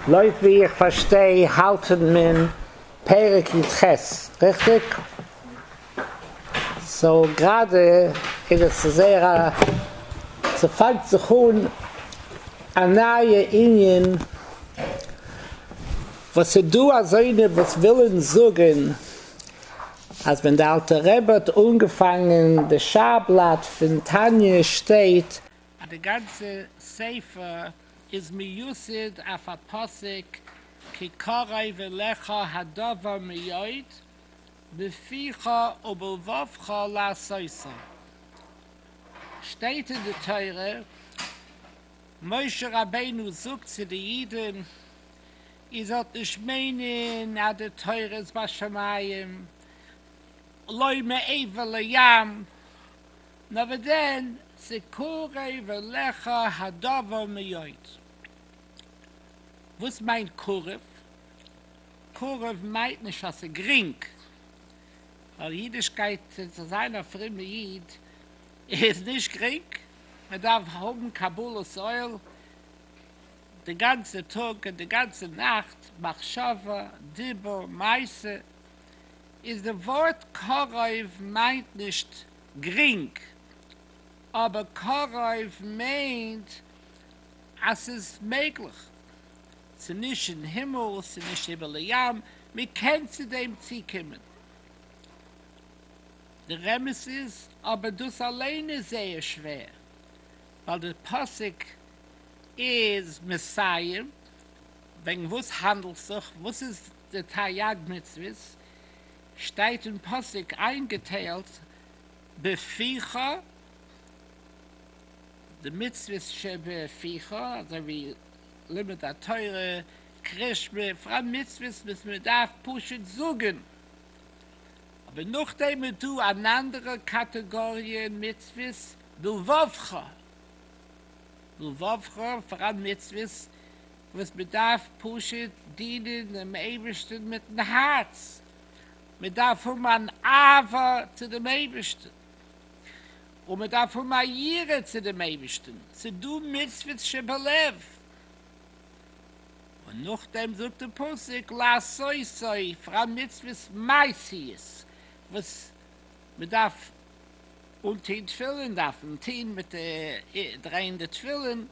לויט ווי איך פארשטיי האלט מען פרק י ח, ריכטיג? סאו גראדע איז עס זייער א, ס'פאנגט זיך אן א נייע ענין, וואס ס'דא אזוינע וואס ווילען זאגען אז ווען די אלטע רבי האט אנגעפאנגען די שער בלאט פון תניא שטייט אז די גאנצע ספר איז מיוסד אויף א פסוק כי קרוב אליך הדבר מאוד בפיך ובלבבך לעשותו, שטייט אין די תורה, משה רבינו זאגט צו די אידן, איר זאלט נישט מיינען אז די תורה איז בשמים, לא מעבר לים. נאר ווען דען ס'קרוב אליך הדבר מאוד. וואס מיינט קרוב? קרוב מיינט נישט אז ס'איז גרינג, ווייל אידישקייט און צו זיין א פרומע איד איז נישט גרינג, מען דארף האבן קבלת עול די גאנצע טאג און די גאנצע נאכט, מחשבה, דיבור, מעשה, איז די ווארט קרוב מיינט נישט גרינג, אבער קרוב מיינט אז ס'איז מעגליך, ס'איז נישט אין הימל, ס'איז נישט איבער די ים, מען קען צו דעם צוקומען. די רמז איז אבער דאס אליין איז זייער שווער, ווייל די פסוק איז מסיים וועגן וואס האנדלט זיך, וואס איז די תריג מצוות, שטייט אין פסוק איינגעטיילט בפיך די מצוות שבפיך, אזוי ווי לימוד התורה, קריאת שמע, פאראן מצוות וואס מען דארף פשוט זאגן, אבער נאכדעם איז דא אן אנדערע קאטעגאריע מצוות בלבבך, בלבבך, פאראן מצוות וואס מען דארף פשוט דינען דעם אייבערשטן מיטן הארץ, מען דארף האבן אן אהבה צו דעם אייבערשטן, און מען דארף האבן א יראה צו דעם אייבערשטן, ס'איז דא מצוות שבלב, און נאכדעם זאגט דער פסוק לעשותו, פאר א מצוות מעשיות וואס מען דארף אנטון תפילין, דארף מען טון מיט די דרייען די תפילין.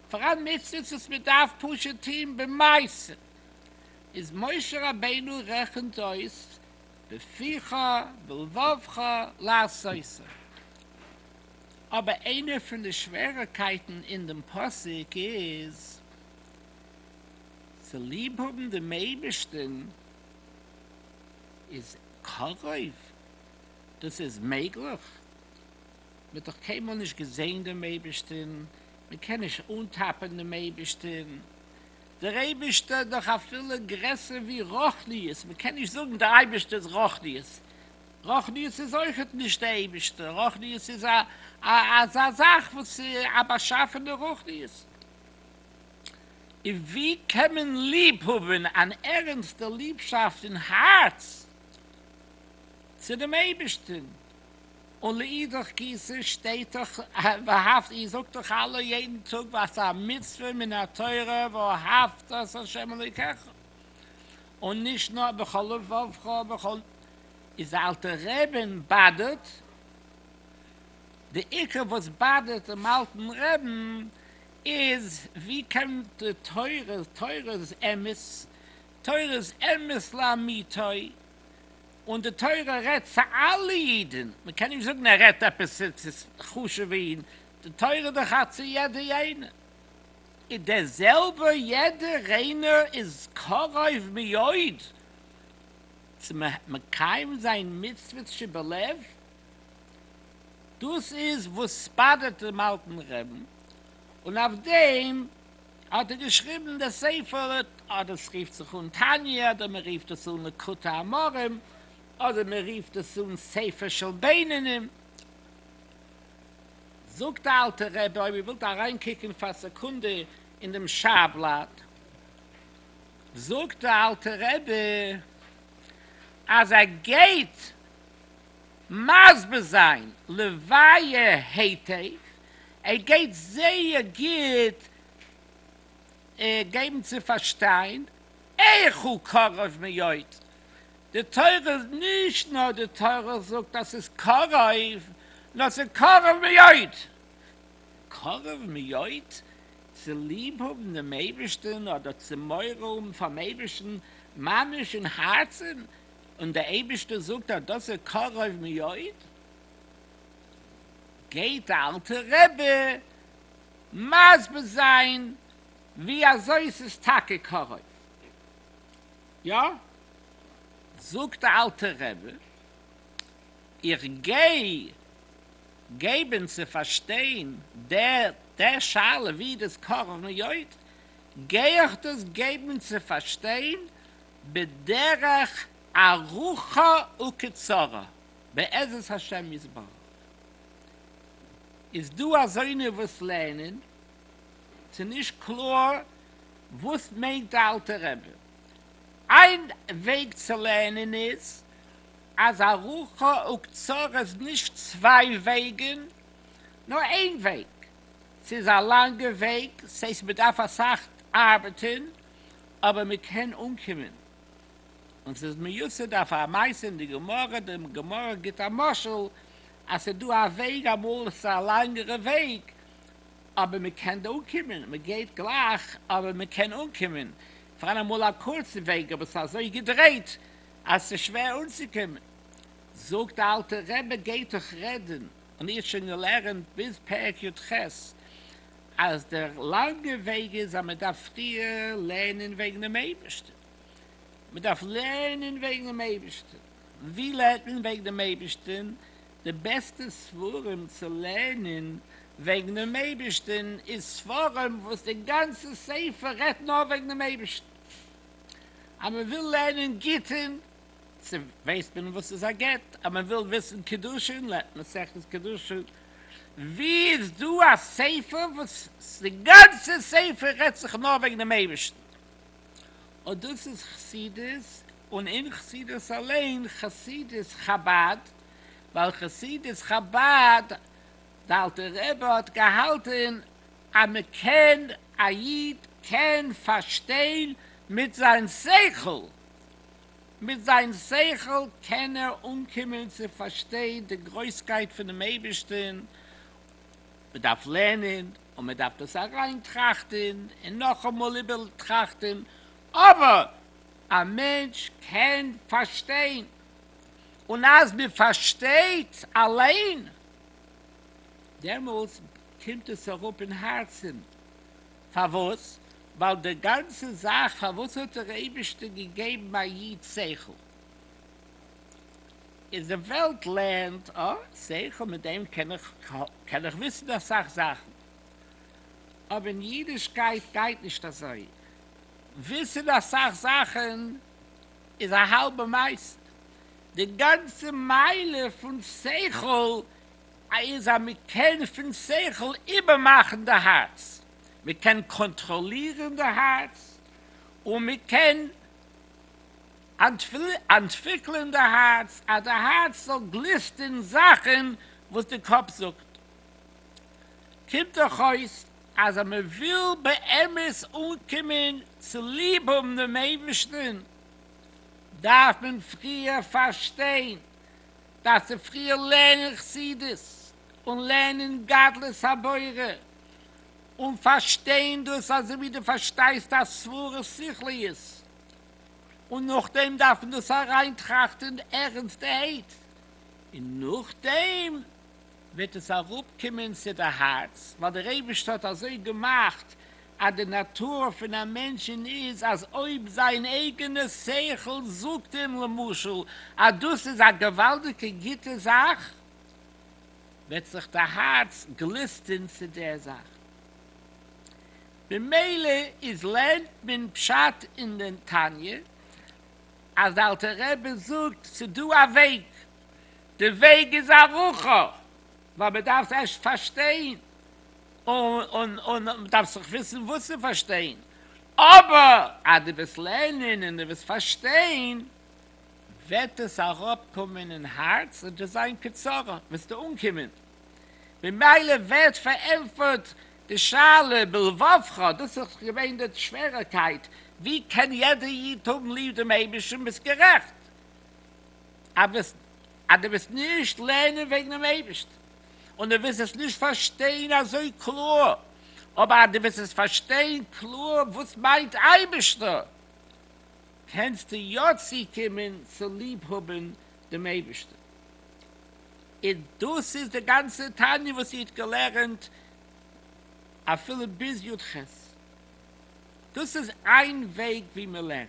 פאר א מצוות וואס מען דארף פשוט טוהן במעשים, איז משה רבינו רעכנט אויס בפיך ובלבבך לעשותו, אבער איינע פון די שווערעקייטן אין דעם פסוק איז צו ליב האבן דעם אייבערשטן איז קרוב, דאס איז מעגליך. מען האט דאך קיינמאל נישט געזען דעם אייבערשטען, מען קען נישט אנטאפען דעם אייבערשטען, דער אייבערשטער איז דאך אפילו גרעסער ווי רוחניות, מען קען נישט זאגן דער אייבערשטער איז רוחניות, רוחניות איז אויכעט נישט דער אייבערשטער, רוחניות איז א אזא זאך וואס א באשאפענע רוחניות, און ווי קען מען ליב האבן אן ערענסטע ליבשאפט אין הארץ צו דעם אייבערשטען, ולאידך גיסא שטייט דאך ואהבת, איר זאגט דאך אלע יעדן טאג וואס א מצוה מן התורה ואהבת את השם אלוקיך, און נישט נאר בכל לבבך ובכל, איז די אלטע רעבין באדערט, די עיקר וואס באדערט דעם אלטן רעבין איז ווי קען די תורה, תורה איז אמת, תורה איז אמת לאמיתו, און די תורה רעדט צו אלע אידן, מען קען נישט זאגן ער רעדט עפעס צו חשוב'ע אידן, די תורה איז דאך א צו יעדע איינער, איז דער זעלבער יעדע ריינער איז קרוב מאוד צו מקיים זיין מצוות שבלב, דאס איז וואס באדערט דעם אלטן רעבן, און אויף דעם. האט ער געשריבן די ספר, אדער עס רופט זיך אן תניא, אדער מען רופט עס אן לקוטי אמרים, אדער מען רופט עס אן ספר של בינונים. זאגט די אלטע רבי, אויב איר ווילט אריין קוקן פאר א סעקונדע אין דעם שער בלאט, זאגט די אלטע רבי אז ער גייט מסביר זיין לוויה העתק ער גייט זייער גוט געבן צו פארשטיין, עכ הוא קרוב מאוד, די תורה איז נישט נאר די תורה זאגט אז ס'איז קרוב, נאר ס'איז קרוב מאוד! קרוב מאוד צו ליב האבן דעם אייבערשטן אדער צו מורא האבן פאר'ן אייבערשטן ממש אין הארצן, און דער אייבערשטער זאגט אז דאס איז קרוב מאוד? גייט די אלטע רבי מסביר זיין ווי אזוי ס'איז טאקע קרוב, יא, זאגט די אלטע רבי, איך גיי געבן צו פארשטיין די שאלה ווי דאס קרוב מאוד, גיי איך דאס געבן צו פארשטיין בדרך ארוכה וקצרה. בעזרת השם יתברך איז דא אזוינע וואס לערנען, ס'נישט קלאר וואס מיינט די אלטע רבי, איין וועג צו לערנען איז אז א רחא וקצרה איז נישט צוויי וועגען נאר איין וועג, ס'איז א לאנגע וועג ס'הייסט מ'דארף אסאך ארבעטען אבער מ'קען אנקומען. און ס'איז מיוסד אויף א מעשה אין די גמרא, די גמרא גיבט א משל אז ס'איז דא א וועג, אמאל איז עס א לאנגערע וועג אבער מען קען דא אנקומען, מען גייט גלייך אבער מען קען אנקומען, פאר אמאל א קורצע וועג אבער ס'איז אזוי געדרייט אז ס'איז שווער אנצוקומען. זאגט די אלטע רבי גייט אויך רעדן, און איר האט שוין געלערנט ביז פרק יו ח אז דער לאנגער וועג איז אז מען דארף פריער לערנען וועגן דעם אייבערשטן, מען דארף לערנען וועגן דעם אייבערשטן, און ווי לערנט מען וועגן דעם אייבערשטן? די בעסטע ספרים צו לערנען וועגן דעם אייבערשטן איז ספרים וואס דער גאנצער ספר רעדט נאר וועגן דעם אייבערשטן. אז מען וויל לערנען גיטין, צו ווייסט מען וואס איז א גט, אז מען וויל וויסן קידושין לערנט מען מסכת קידושין, ווי איז דא א ספר וואס די גאנצע ספר רעדט זיך נאר וועגן דעם אייבערשטן? אט דאס איז חסידות, און אין חסידות אליין, חסידות חבד, ווייל חסידות חבד, די אלטע רבי האט געהאלטען אז מען קען, א איד קען פארשטיין מיט זיין שכל, מיט זיין שכל קען ער אנקומען צו פארשטיין די גרויסקייט פונעם אייבערשטען, מען דארף לערנען און מען דארף דאס אריין טראכטען און נאכאמאל איבער טראכטען, אבער א מענטש קען פארשטיין, און אז מען פארשטייט אליין, דעמאלס קומט עס אראפ אין הארצען, פארוואס? ווייל די גאנצע זאך, פארוואס האט דער אייבערשטער געגעבן א איד שכל? איז די וועלט לענד, אה, שכל מיט דעם קען איך קען איך וויסן אסאך זאכן, אבער אין אידישקייט גייט נישט אזוי, וויסן אסאך זאכן איז א האלבע מעשה, די גאנצע מעלה פון שכל איז אז מען קען פון שכל איבערמאכן די הארץ, מען קען קאנטראלירן די הארץ און מען קען. אנטוויקלען די הארץ אז די הארץ זאל גליסטען זאכען וואס די קאפ זאגט, קומט דאך אויס אז אז מען וויל באמת אנקומען צו ליב האבן דעם אייבערשטען דארף מען פריער פארשטיין, דארף צו פריער לערנען חסידות און לערנען גדלות הבורא און פארשטיין דאס אזוי ווי די פארשטייסט א סברא שכליות, און נאכדעם דארף מען דאס אריינטראכטען ערענסטעהייט, און נאכדעם וועט עס אראפקומען צו די הארץ, ווייל דער אייבערשטער האט אזוי געמאכט אז די נאטור פון א מענטשען איז אז אויב זיין אייגענע שכל זאגט אים למשל אז דאס איז א געוואלדיגע גוטע זאך, וועט זיך די הארץ גליסטען צו דער זאך. ממילא איז לערנט מען פשט אין די תניא אז די אלטע רבי זאגט ס'דא א וועג, די וועג איז ארוכה ווייל מ'דארף ערשט פארשטיין און מ'דארף זיך וויסן וואס צו פארשטיין, אבער אז דו וועסט לערנען און דו וועסט פארשטיין וועט עס אראפקומען אין הארץ און וועסט זיין קצרה וועסטו אנקומען. ממילא ווערט פארענטפערט די שאלה בלבבך, דאס איז געווען די שווערעקייט, ווי קען יעדער איד האבן ליב דעם אייבערשטן? ביסט גערעכט אז דו וועסט נישט לערנען וועגן דעם אייבערשטן און דו וועסט עס נישט פארשטיין אזוי קלאר, אבער אז דו וועסט עס פארשטיין קלאר וואס מיינט אייבערשטער, קענסטו יא צוקומען צו ליב האבן דעם אייבערשטן. און דאס איז די גאנצע תניא וואס איר האט געלערנט אפילו ביז י ח, דאס איז איין וועג ווי מען לערנט,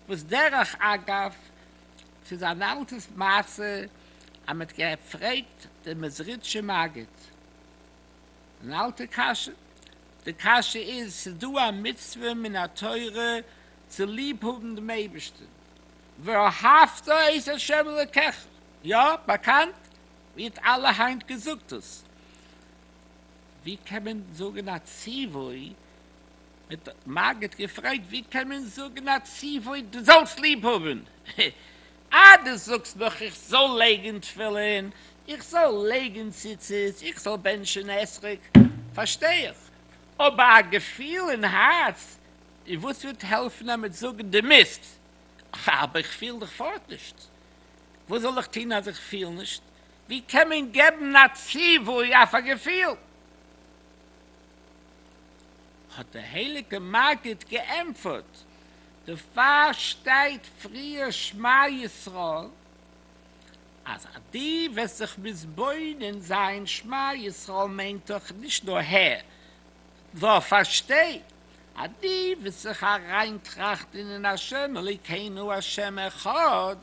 וואס דרך אגב ס'איז אן אלטע מעשה אז מ'האט געפרעגט דעם מעזריטשע מגיד אן אלטע קשיא, די קשיא איז, ס'איז דא א מצוה מן התורה צו ליב האבן דעם אייבערשטן, ואהבת את ה' אלקיך, יא, באקאנט ווערט אלע היינט געזאגטס. ווי קען מען זאגן א ציווי? מיט א מגיד געפרעגט ווי קען מען זאגן א ציווי דו זאלסט ליב האבן? אה, דו זאגסט נאך איך זאל לייגן תפילין, איך זאל לייגן ציצית, איך זאל בענטשן עשריק, פארשטיי איך. אבער א געפיל אין הארץ וואס וועט העלפן אז מען זאגן דו מוזט, אבער איך פיל דיך פארט נישט, וואס זאל איך טון אז איך פיל נישט? ווי קען מען געבן א ציווי אויף א געפיל? האט דער הייליגע מגיד געענטפערט, דערפאר שטייט פריער שמע ישראל, אז אז דו וועסט זיך מתבונן זיין, שמע ישראל מיינט דאך נישט נאר הער, נאר פארשטיי, אז די וועסט זיך אריין טראכטען אין השם אלוקינו השם אחד,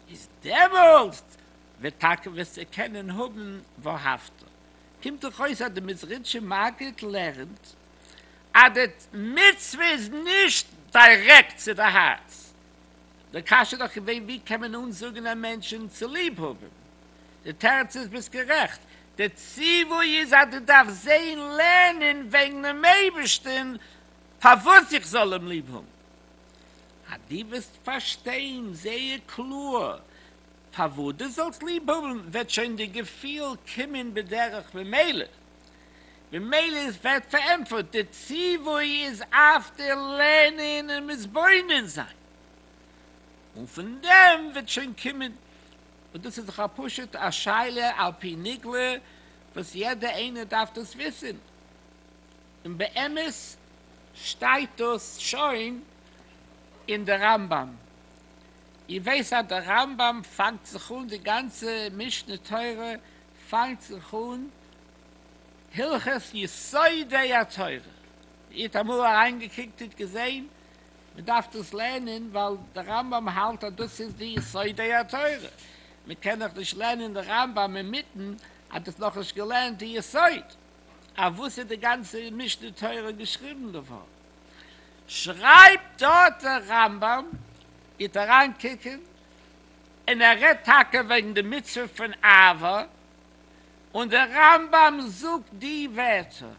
איז דעמאלסט וועט טאקע וועסטו קענען האבען ואהבת. קומט דאך אויס אז די מעזריטשע מגיד לערנט אז די מצוה איז נישט דירעקט צו די הארץ. די קשיא איז דאך געווען ווי קען מען אנזאגען א מענטשען צו ליב האבען די תירץ איז ביסט גערעכט, די ציווי איז אז דו דארפסט זעהן לערנען וועגן דעם אייבערשטען פארוואס איך זאל אים ליב האבן, אז דו וועסט פארשטיין זייער קלאר פארוואס דו זאלסט ליב האבן וועט שוין די געפיל קומען בדרך ממילא, ממילא איז ווערט פארענטפערט, די ציווי איז אויף די לערנען און מתבונן זיין, און פון דעם וועט שוין קומען און דאס איז דאך א פשוט א שאלה על פי נגלה וואס יעדע איינער דארף דאס וויסען, און באמת שטייט דאס שוין אין די רמב ם, איר ווייסט אז די רמב ם פאנגט זיך אן די גאנצע משנה תורה פאנגט זיך אן הלכות יסודי התורה, איר האט אמאל אריינגעקוקט איר האט געזעהן מען דארף דאס לערנען ווייל דער רמב ם האלט אז דאס איז די יסודי התורה, מען קען דאך נישט לערנען די רמב ם אינמיטן אז דאס נאך נישט געלערנט די יסוד אויף וואס איז די גאנצע משנה תורה געשריבן געווארן, שרייבט דארט דער רמב ם, גיט אריין קוקען, און ער רעדט טאקע וועגן די מצוה פון אהבה, און דער רמב ם זאגט די ווערטער,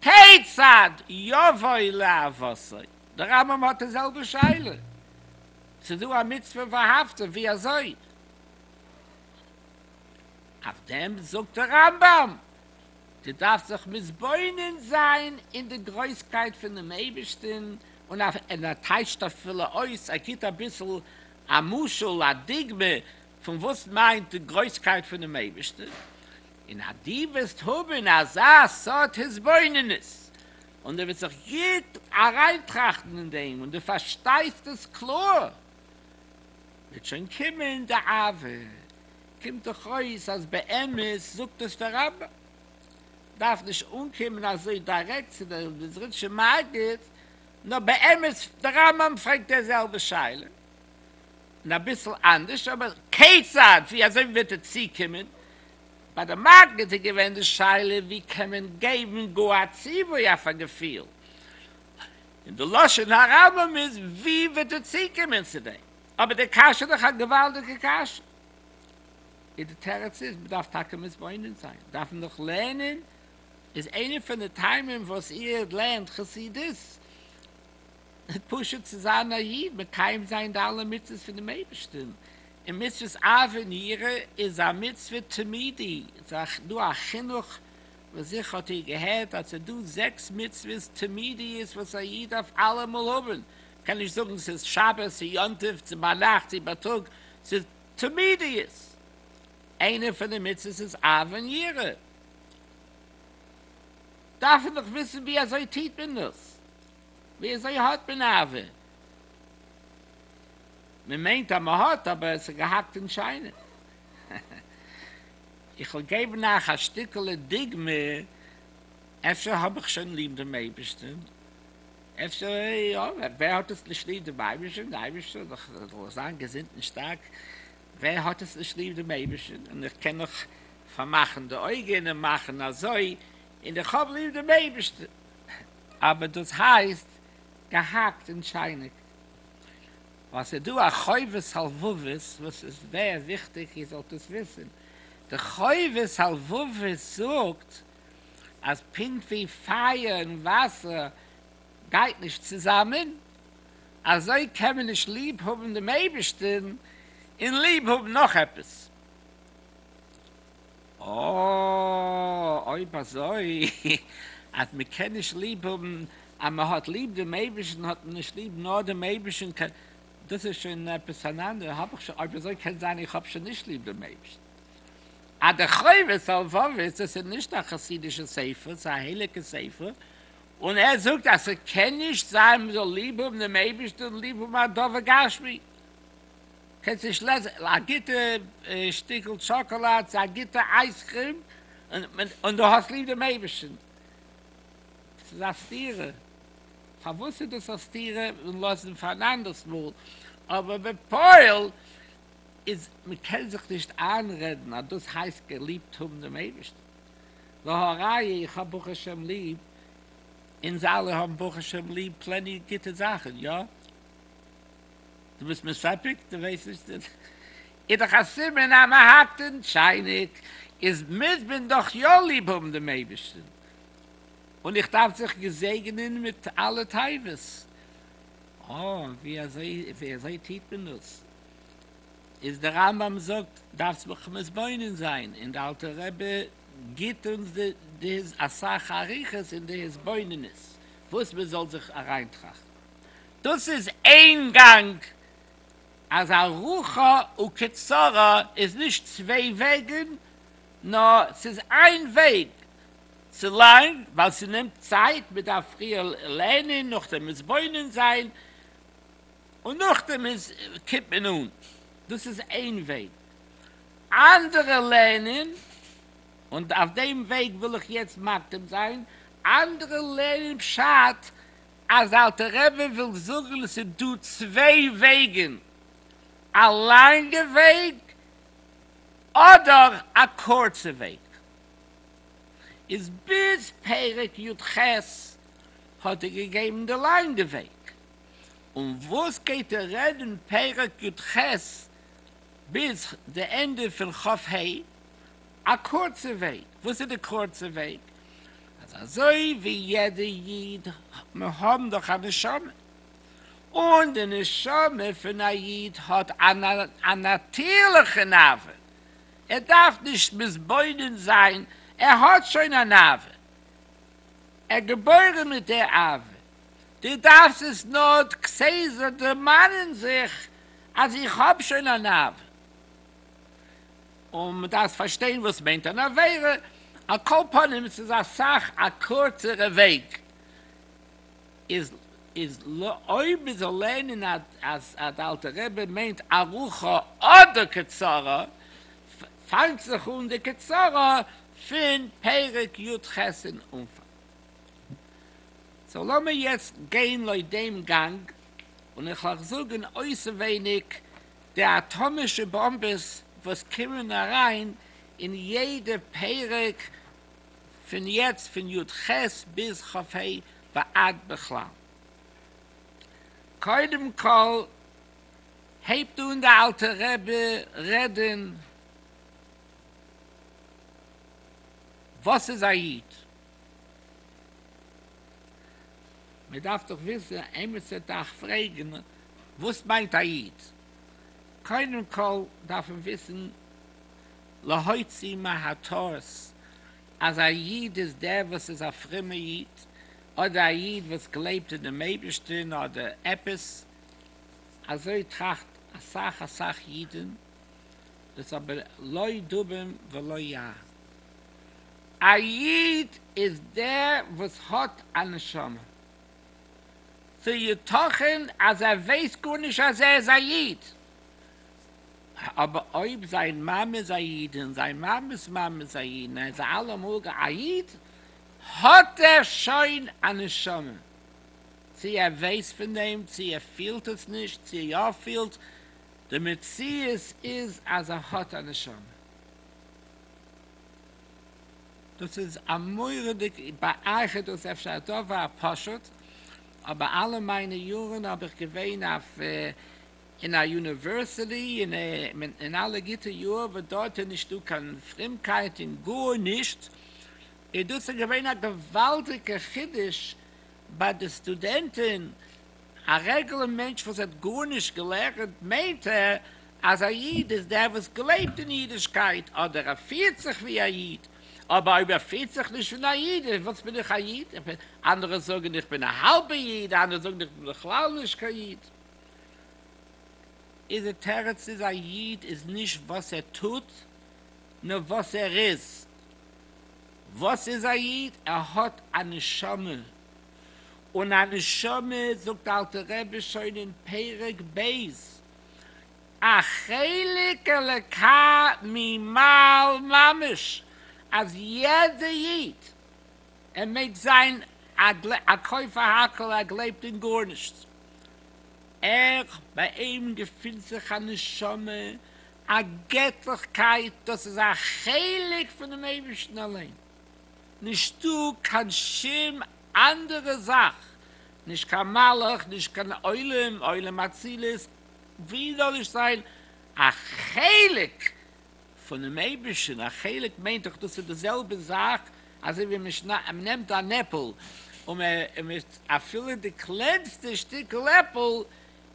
כיצד יבוא לעבותו, דער רמב ם האט די זעלבע שאלה, ס'דא א מצוה ואהבתו, ווי אזוי? אויף דעם זאגט דער רמב ם, דו דארפסט זיך מתבונן זיין אין די גרויסקייט פונעם אייבערשטן, און און ער טייטשט אפילו אויס, ער גיבט אביסל א משל, א דוגמה, פון וואס מיינט די גרויסקייט פונעם אייבערשטן, און אז דו וועסט האבן אזא סארט התבוננות, און דו וועסט זיך גוט אריינטראכטן אין דעם, און דו פארשטייסט עס קלאר, וועט שוין קומען די אהבה. קומט דאך אויס אז באמת זאגט עס דער רמבם. דארף נישט אנקומען אזוי דירעקט צו דער מזריטשער מגיד, נאר באמת דער רמבם פרעגט די זעלבע שאלה, און אביסל אנדערש, אבער כיצד, ווי אזוי וועט ער צוקומען ביי די מגד איז געווען די שאלה ווי קען מען געבן גאר א ציווי אויף א געפיל, און די לשון הרמב ם איז ווי וועט ער צוקומען צו דעם, אבער די קשיא איז דאך א געוואלדיגע קשיא, און די תירוץ איז מען דארף טאקע מתבונן זיין, דארף מען דאך לערנען, איז איינע פון די טעמים וואס איר לערנט חסידות פשוט צו זיין א איד, מקיים זיין די אלע מצוות פונעם אייבערשטן, און מצוות אהבה און יראה איז א מצוה תמידי, ס'איז דא א חינוך, וואס זיכער האט איר געהערט אז ס'איז דא זעקס מצוות תמידיות וואס א איד דארף אלעמאל האבן, מ'קען נישט זאגן ס'איז שבת, ס'איז יום טוב, צו ביינאכט, צו בייטאג, ס'איז תמידיות, איינע פון די מצוות איז אהבה און יראה, דארף מען דאך וויסן ווי אזוי טוט מען דאס, ווי אזוי האט מען אהבה? מען מיינט אז מען האט אבער עס איז געהאקט אין שיינע. איך וועל געבן אייך א שטיקעלע דוגמה, אפשר האב איך שוין ליב דעם אייבערשטען, אפשר יא, ווער האט עס נישט ליב דעם אייבערשטען, דער אייבערשטער זאל זיין געזונט און שטארק, ווער האט עס נישט ליב דעם אייבערשטען, און איך קען נאך פארמאכן די אויגען און מאכן אזוי און איך האב ליב דעם אייבערשטן, אבער דאס הייסט געהאקט און טשייניק, ווייל ס'איז דא א חובת הלבבות וואס איז זייער וויכטיג איר זאלט דאס וויסן, די חובת הלבבות זאגט אז פונקט ווי פייער און וואסער גייט נישט צוזאמען, אזוי קען מען נישט ליב האבן דעם אייבערשטן און ליב האבן נאך עפעס. אוה, אויב אזוי אז מען קען נישט ליב האבן אז מען האט ליב דעם אייבערשטן האט מען נישט ליב נאר דעם אייבערשטן, דאס איז שוין עפעס אן אנדערע, האב איך שוין, אויב אזוי קען זיין איך האב שוין נישט ליב דעם אייבערשטן. א די חובת הלבבות, דאס איז נישט א חסידישע ספר, ס'איז א הייליגע ספר, און ער זאגט אז ס'קען נישט זיין מען זאל ליב האבן דעם אייבערשטן און ליב האבן א דבר גשמי. קענסט נישט לעזן? א גוטע שטיקל טשאקאלאד, א גוטע אייזקרים, און דו האסט ליב דעם אייבערשטן. עס איז א סתירה. פארוואס איז דאס א סתירה? און לאזן פאר אן אנדערס מאל. אבער בפועל איז, מען קען זיך נישט איינרעדן אז דאס הייסט געליבט האבן דעם אייבערשטן. והא ראיה, איך האב ברוך השם ליב, אונז אלע האבן ברוך השם ליב פלעני גוטע זאכן, יא? דו ביסט מסופק? דו ווייסט נישט? איז דאך א סימן אז מען האקט אין טשייניק, איז מוז מען דאך יא ליב האבן דעם אייבערשטן, און איך דארף זיך געזעגענען מיט אלע תיבות. אה, ווי אזוי, ווי אזוי טוט מען דאס? איז דער רמב ם זאגט, דארפסט מיך מתבונן זיין, און דער אלטער רבי גיבט אונז די, אסאך אריכות אין די התבוננות, וואס מען זאל זיך אריינטראכטן. דאס איז איין גאנג, אז ארוכה וקצרה איז נישט צוויי וועגן, נאר ס'איז איין וועג, צו לאנג ווייל ס'נעמט צייט, מ'דארף פריער לערנען, נאכדעם מתבונן זיין, און נאכדעם איז קומט מען אן, דאס איז איין וועג, אנדערע לערנען, און אויף דעם וועג וויל איך יעצט מקדים זיין, אנדערע לערנען פשט אז אלטער רבי וויל זאגן ס'איז דא צוויי וועגן, א לאנגע וועג אדער א קורצע וועג, איז ביז פרק י ח האט ער געגעבן די לאנגע וועג, און וואס גייט ער רעדן פרק י ח ביז די ענדע פון ח ה, א קורצע וועג, וואס איז די קורצע וועג? אז אזוי ווי יעדע איד, מיר האבן דאך א נשמה, און די נשמה פון א איד האט א נאטירליכע נאווה, ער דארף נישט מתבונן זיין, ער האט שוין א נאווה, ער איז געבוירן מיט די אהבה, דו דארפסט עס נאר כסדר דערמאנען זיך אז איך האב שוין א נאווה. און מען דארף פארשטיין וואס מיינט אן עבירה, על כל פנים ס'איז אסאך א קורצערע וועג, איז איז אויב מען זאל לערנען אז די אלטע רבי מיינט ארוכה אדער קצרה, פאנגט זיך אן די קצרה פון פרק י ח אין אנפאנג. סאו לאמיר יעצט גיין לויט דעם גאנג, און איך לאך זאגען אויסעווייניג די אטאמישע באמבעס וואס קומען אריין אין יעדע פרק פון יעצט פון יו ט ביז כ ה ועד בכלל. קודם כל הייבט אן די אלטע רבי רעדן וואס איז א איד, מען דארף דאך וויסן, איינער צו דאך פרעגן וואס מיינט א איד, קודם כל דארף מען וויסן להוציא מהתורס אז א איד איז דער וואס איז א פרומער איד, אדער א איד וואס גלייבט אין דעם אייבערשטען אדער עפעס, אזוי טראכט אסאך אסאך אידן, דאס אבער לא דובים ולא יער. א איד איז דער וואס האט א נשמה. צו יתכן אז ער ווייסט גארנישט אז ער איז א איד, אבער אויב זיין מאמע איז א איד און זיין מאמע'ס מאמע איז א איד און ער איז אלעמאל א איד, האט ער שוין א נשמה. צו ער ווייסט פון דעם, צו ער פילט עס נישט, צו יא פילט, די מציאות איז אז ער האט א נשמה. דאס איז א מורא'דיג, ביי אייך איז דאס אפשר א דבר פשוט, אבער אלע מיינע יארן האב איך געווען אויף אין א יוניווערסיטי און אין אלע גוטע יאר וואס דארט איז נישט דא קיין פרומקייט און גארנישט, און דאס איז געווען א געוואלדיגע חידוש ביי די סטודענטן. א רעגולער מענטש וואס האט גארנישט געלערנט מיינט ער אז א איד איז דער וואס גלייבט אין אידישקייט אדער ער פירט זיך ווי א איד, אבער אויב ער פירט זיך נישט ווי א איד איז וואס בין איך א איד? אנדערע זאגן איך בין א האלבע איד, אנדערע זאגן איך בין בכלל נישט קיין איד. איז די תירוץ איז א איד איז נישט וואס ער טוט נאר וואס ער איז. וואס איז א איד? ער האט א נשמה. און א נשמה זאגט אלטער רבי שוין אין פרק ב' א חלק אלקה ממעל ממש אז יעדע איד ער מעג זיין א כופר הכל ער גלייבט אין גארנישט ער ביי אים געפינט זיך א נשמה א געטליכקייט דאס איז א חלק פונעם אייבערשטן אליין. נישטא קיין שום אנדערע זאך, נישט קיין מלאך, נישט קיין עולם, עולם אצילות, ווי זאל נישט זיין א חלק פונעם אייבערשטן, א חלק מיינט דאך דאס איז די זעלבע זאך אזוי ווי מען נעמט אן עפל און מען, אפילו די קלענסטע שטיקל עפל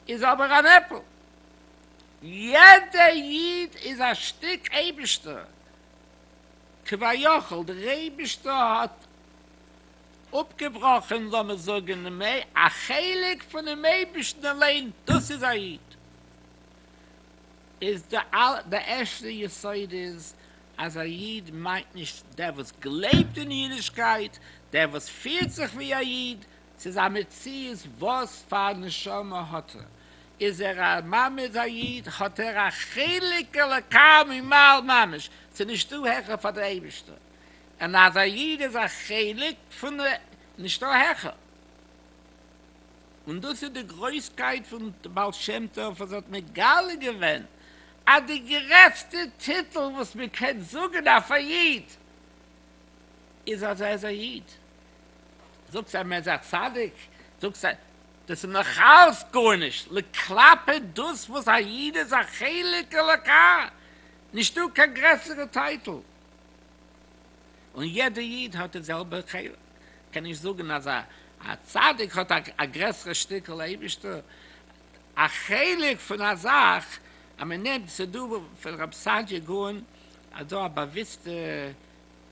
איז אבער אן עפל, יעדע איד איז א שטיק אייבערשטער, כביכול דער אייבישטער האט אפגעבראכען לאמיר זאגען א חלק פונעם אייבישטען אליין, דאס איז א איד, איז די ערשטע יסוד איז אז א איד מיינט נישט דער וואס גלייבט אין אידישקייט, דער וואס פירט זיך ווי א איד, ס'איז א מציאות וואס פאר נשמה האט ער, איז ער א ממעד א איד, האט ער א חלק אלוקי ממעל ממש, ס'איז נישטא העכער פאר דער אייבערשטער, און אז א איד איז א חלק פון א, נישטא העכער, און דאס איז די גרויסקייט פון בעל שם טוב וואס האט מגלה געווען אז די גרעסטע טיטל וואס מען קען זאגן אויף א איד איז אז ער איז א איד. זאגסט אז מען איז א צדיק, זאגסט אז דאס איז נאכאלץ גארנישט כלפי דאס וואס א איד איז א חלק אלוקי, נישטא קיין גרעסערע טייטל, און יעדע איד האט די זעלבע חלק, קען נישט זאגן אז א צדיק האט א גרעסערע שטיקל אייבישטער, א חלק פון א זאך, אז מען נעמט ס'דא פון רב סעדיה גאון אז דא א באוויסטע.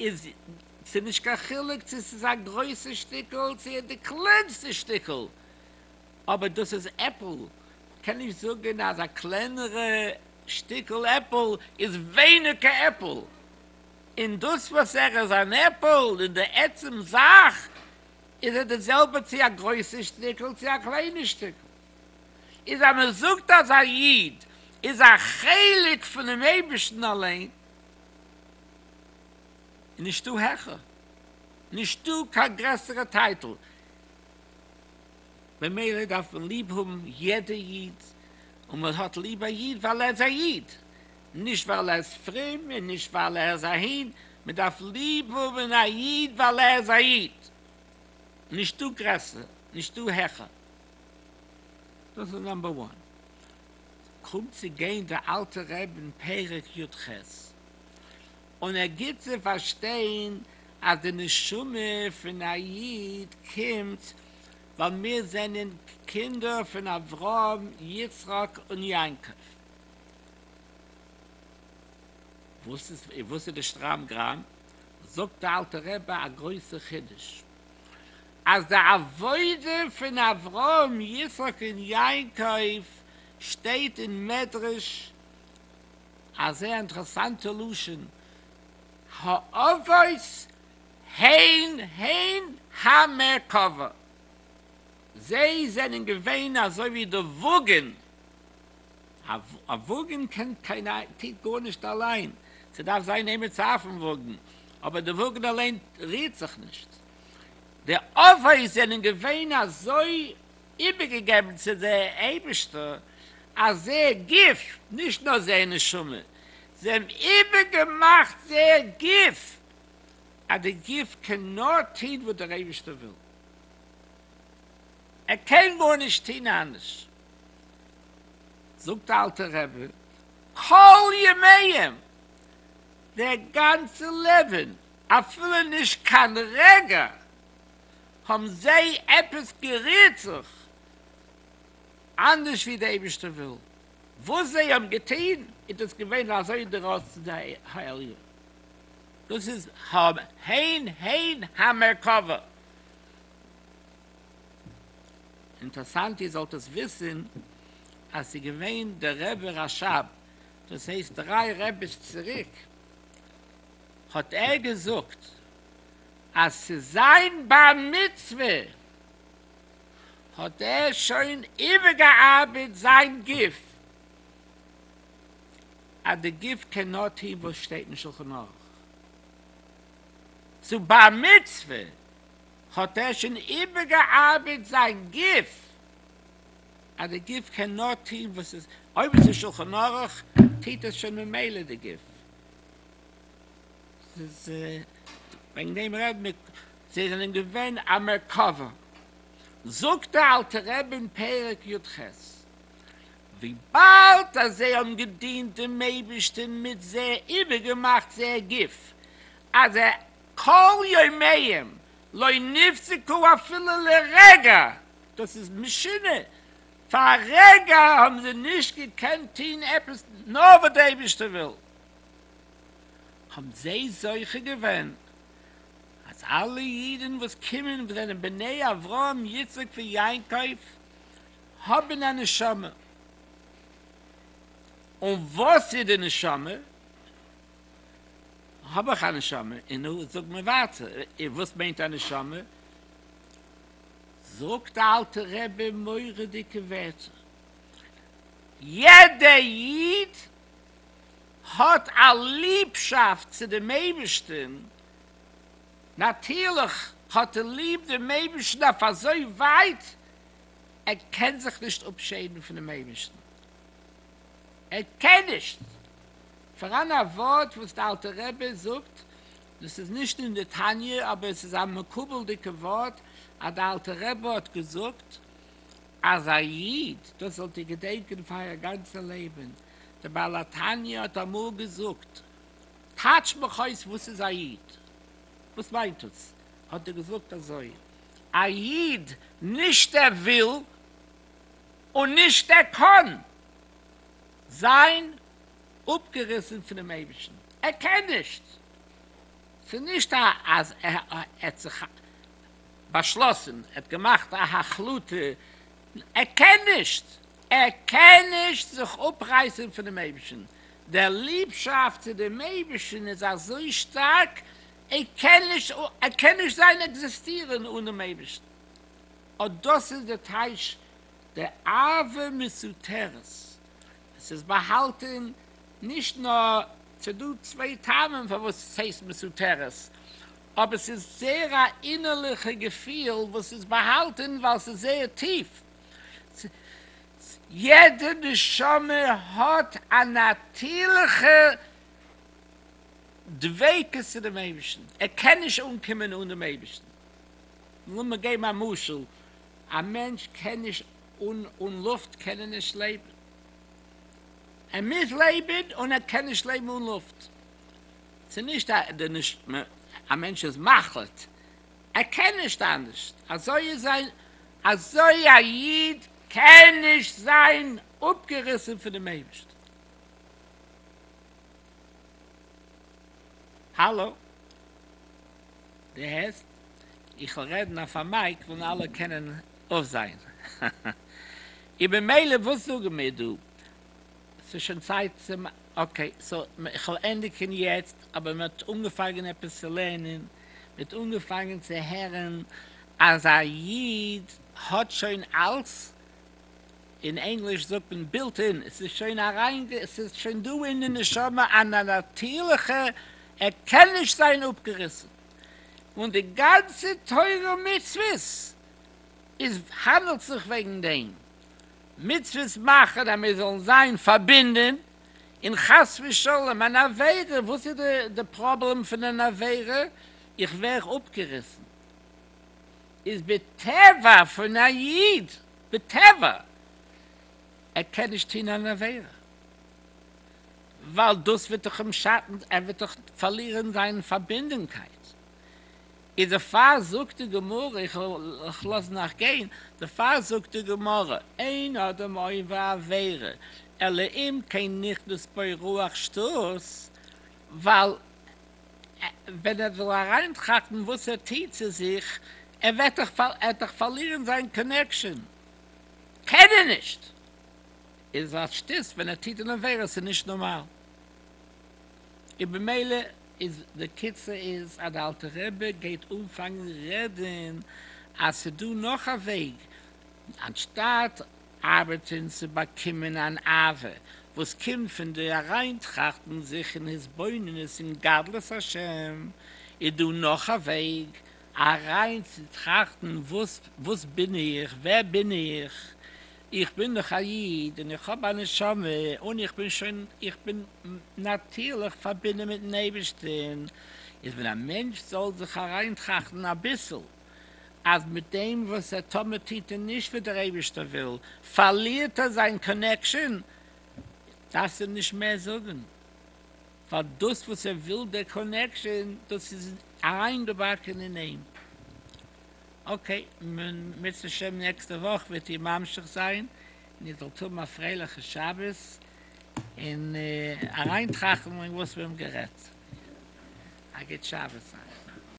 איז ס'איז נישט קיין חילוק צו ס'איז א גרויסע שטיקל צו די קלענסטע שטיקל, אבער דאס איז עפל, מ'קען נישט זאגן אז א קלענערע שטיקל עפל איז ווייניגער עפל, און דאס וואס ער איז אן עפל אין די עצם זאך איז ער די זעלבע צו א גרויסע שטיקל צו א קליינע שטיקל, איז אז מ'זאגט אז א איד איז א חלק פונעם אייבערשטן אליין. איז נישטא העכער, נישטא קיין גרעסערע טייטל, ממילא דארף מען ליב האבן יעדע איד, און מען האט ליב א איד ווייל ער איז א איד, נישט ווייל ער איז פרום און נישט ווייל ער איז אהין, מען דארף ליב האבן א איד ווייל ער איז א איד, נישטא גרעסער, נישטא העכער. דאס איז נאמבער וואן. קומט צו גיין די אלטע רב אין פרק י ח. און ער גיט צו פארשטיין אז די נשמה פון א איד קומט ווייל מיר זענען קינדער פון אברהם, יצחק און יעקב. וואס איז וואס איז די שטראם גראם? זאגט די אלטע רבי א גרויסע חידוש, אז די עבודה פון אברהם, יצחק און יעקב שטייט אין מדרש, א זייער אינטערעסאנטע לשון האבות הן הן המרכבה, זיי זענען געווען אזוי ווי די וואגען, א וואגען קען קיין טוט גארנישט אליין, ס'דארף זיין איינער צו אויפן וואגען, אבער די וואגען אליין רירט זיך נישט, די אבות זענען געווען אזוי. איבערגעגעבן צו די אייבערשטער אז זייער גוף, נישט נאר זייער נשמה, זיי האבן איבערגעמאכט זייער גוף, אז די גוף קען נאר טון וואס דער אייבערשטער וויל, ער קען גארנישט טון אנדערש, זאגט די אלטע רבי, כל ימיהם, דער גאנצע לעבן, אפילו נישט קיין רגע האבן זיי עפעס גערירט זיך אנדערש ווי דער אייבערשטער וויל, וואס זיי האבן געטון איז דאס געווען אזוי די רצון פון דער העליון, דאס איז הן הן המרכבה. אינטערסאנט איר זאלט עס וויסן אז ס'איז געווען דער רבי רשב, דאס הייסט דריי רבי'ס צוריק האט ער געזאגט, אז צו זיין בר מצוה האט ער שוין איבערגעארבעט זיין גוף, אז די גוף קען נאר טון וואס שטייט אין שלחן ערוך, צו בר מצוה האט ער שוין איבערגעארבעט זיין גוף, אז די גוף קען נאר טון וואס עס אויב עס איז שלחן ערוך טוט עס שוין ממילא די גוף. ס'איז וועגן דעם רעד מיט זיי זענען געווען א מרכבה, זאגט דער אלטער רבי אין פרק י ח, וויבאלד אז זיי האבן געדינט דעם אייבערשטען מיט זיי איבערגעמאכט זייער גוף אז כל ימיהם לא נפסקו אפילו לרגע, דאס איז משונה, פאר א רגע האבן זיי נישט געקענט טוהן עפעס נאר וואס דער אייבערשטער וויל, האבן זיי זוכה געווען אז אלע אידן וואס קומען וואס זענען בני אברהם יצחק ויעקב האבן א נשמה, און וואס איז די נשמה? האב איך א נשמה? און נו, זאג מיר ווייטער, און וואס מיינט א נשמה? זאגט די אלטע רבי מורא'דיגע ווערטער, יעדע איד, האט א ליבשאפט צו דעם אייבערשטן, נאטירליך האט ער ליב דעם אייבערשטן אויף אזוי ווייט ער קען זיך נישט אפשערן פונעם אייבערשטן, ער קען נישט, פאראן א ווארט וואס דער אלטער רבי זאגט, דאס איז נישט אין די תניא אבער עס איז א מקובל'דיגע ווארט, אז דער אלטער רבי האט געזאגט אז א איד, דאס זאלט איר געדענקען פאר אייער גאנצע לעבן, דער בעל התניא האט אמאל געזאגט, טייטש מיך אויס וואס איז א איד? וואס מיינט דאס? האט ער געזאגט אזוי, א איד נישט ער וויל און נישט ער קען זיין אפגעריסן פונעם אייבערשטן, ער קען נישט, ס'איז נישט אז ער האט זיך באשלאסן, ער האט געמאכט א החלטה, ער קען נישט! ער קען נישט זיך אפרייסן פונעם אייבערשטן, דער ליבשאפט צו דעם אייבערשטן איז אזוי שטארק, ער קען נישט ער קען נישט זיין עקזיסטירן אן דעם אייבערשטן, אט דאס איז די טייטש דער אהבה מסותרת, עס איז באהאלטן נישט נאר, ס'דא צוויי טעמים פארוואס עס הייסט מסותרת, אבער עס איז זייער א אינערליכע געפיל וואס איז באהאלטן ווייל עס איז זייער טיף. יעדע נשמה האט א נאטירליכע דביקות צו דעם אייבערשטן, ער קען נישט אנקומען אן דעם אייבערשטן. לאמיר געבן א משל, א מענטש קען נישט, אן לופט קען ער נישט לעבן, ער מוז לעבן און ער קען נישט לעבן אן לופט, ס'נישט א מענטש איז מחליט, ער קען נישט אנדערשט, אזוי איז זיין, אזוי א איד קען נישט זיין אפגעריסן פונעם אייבערשטן. האלא? דו הערסט? איך וועל רעדן אויף א מייק וואלן אלע קענען אויפזען. און ממילא וואס זאגן מיר דא? ס'איז שוין צייט צו מ. אקעי סאו איך וועל ענדיגען יעצט, אבער מען האט אנגעפאנגען עפעס צו לערנען, מען האט אנגעפאנגען צו הערען אז א איד האט שוין אלס, אין ענגליש זאגט מען בילט אין, עס איז שוין אריין, עס איז שוין דא אין די נשמה א נאטירליכע, ער קען נישט זיין אפגעריסען, און די גאנצע תורה ומצוות איז האנדעלט זיך וועגען דעם. מצוות מאכן אז מיר זאלן זיין פארבינדען, און חס ושלום אן עבירה, וואס איז די פראבלעם פון אן עבירה? איך ווער אפגעריסן, איז בטבע פון א איד, בטבע, ער קען נישט טון אן עבירה, ווייל דאס וועט דאך אים שאטן, ער וועט דאך פארלירן זיין פארבינדענקייט. איז דערפאר זאגט די גמרא, איך לאז נאך גיין, דערפאר זאגט די גמרא, אין אדם עוין ועבירה, אלא אם כן נכנס בו רוח שטות, ווייל ווען ער זאל אריינטראכטן וואס ער טוט צו זיך, ער וועט דאך פארלירן זיין קאנעקשאן, קען ער נישט, איז א שטות ווען ער טוט אן עבירה, ס'איז נישט נארמאל. און במילא איז די קיצור איז אז די אלטע רבי גייט אנפאנגן רעדן אז ס'דא נאך א וועג, אנשטאט ארבעטן צו באקומען אן אהבה וואס קומט פון די אריינטראכטן זיך אין התבוננות אין גדלות השם, איז דא נאך א וועג, אריינצוטראכטן וואס בין איך, ווער בין איך, איך בין דאך א איד און איך האב א נשמה און איך בין שוין איך בין נאטירליך פארבינדן מיטן אייבערשטן, איז ווען א מענטש זאל זיך אריינטראכטן אביסל אז מיט דעם וואס ער טאמער טוט ער נישט וואס דער אייבערשטער וויל פארלירט ער זיין קאנעקשאן, דארפסט אים נישט מער זאגן ווייל דאס וואס ער וויל דער קאנעקשאן דאס איז אריינגעבאקן אין אים אקעי, מוצש ש נעקסטע וואך וועט איר ממשיך זיין, און איר זאלט האבן א פרייליכע שבת, און אריינטראכטן אין וואס מיר האבן גערעדט. א גוט שבת אייך.